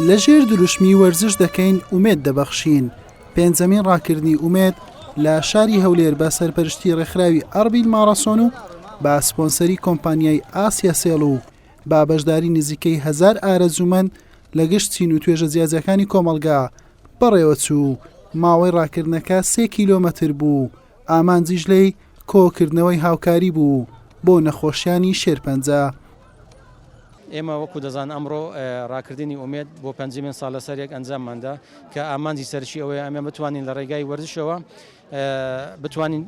لە ژێر دروشمی وەرزش دەکەین ئومێد دەبەخشین پێنجەمین ڕاکردنی ئومێد لە شاری هەولێر بە سەرپەرشتی ڕێکخراوی ئەربیل ماڕاسۆن و با سپۆنسەری کۆمپانیای ئاسیا سێڵ و با بەشداری نزیکەی هزار ئارەزوومەند لە گشت چین و توێژە جیاجەکانی کۆمەڵگا بەڕێوەچوو ماوەی ڕاکردنەکە سێ کیلۆمەتر بوو ئامانجیش لێی کۆکردنەوەی هاوکاری بوو بۆ نەخۆشیانی شێرپەنجە. ئێمە وەکو دەزان ئەمڕۆ ڕاکردنی ئومێد بۆ پەنجەمین ساڵ لەسەر یەک ئەنجاممان دا کە ئامانجی سەرەکی ئەوەیە ئەمە بتوانین لە ڕێگای وەرزشەوە بتوانین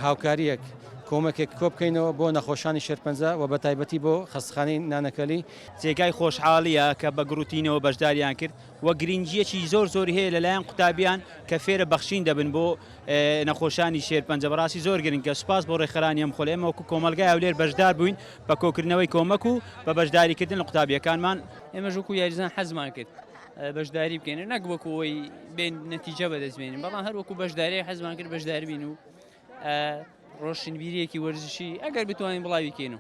هاوکاریەک کۆمەکێک کۆبکەینەوە بۆ نەخۆشانی شێرپەنجە و بەتایبەتی بۆ خەستخانەی نانەکەلی. جێگای خۆشحاڵییە کە بە گڕوتینەوە بەشداریان کرد. وە گرینگیەکی زۆر زۆری هەیە لەلایەن قوتابیان کە فێرە بەخشین دەبن بۆ نەخۆشانی شێرپەنجە بەڕاستی زۆر گرنگە سوپاس بۆ ڕێکخەرانی ئەم خۆلە ئێمە وەکو کۆمەڵگای هەولێر بەشدار بووین بە کۆکردنەوەی کۆمەک و بە بەشداریکردن لە قوتابیەکانمان ئێمەش وەکو یاریزان حەزمان کرد بەشداری بکەین نەک وەکو ئەوەی بێن نەتیجە بەدەست بێنین بەڵام هەر وەکو بەشداری حەزمان کرد بەشدار بین و ڕۆشنبیریەکی وەرزشی ئەگەر بتوانین بڵاوی کەین و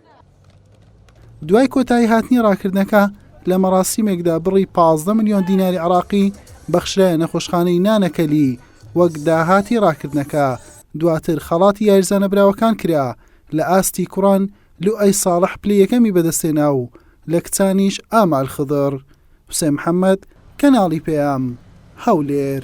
دوای کۆتایی هاتنی ڕاکردنەکە لە مەڕاستیمێکدا بڕی 15 میلیۆن دیناری عراقی بەخشرایە نەخۆشخانەی نانەکەلی وەک داهاتی ڕاکردنەکە دواتر خەڵاتی یاریزانە براوەکان کرا لە ئاستی کوڕان لوئەی ساڵح پلەی یەکەمی بەدەستێنا و لە کچانیش ئامال خدڕ حوسێن محەمەد کەناڵی پەیام هەولێر.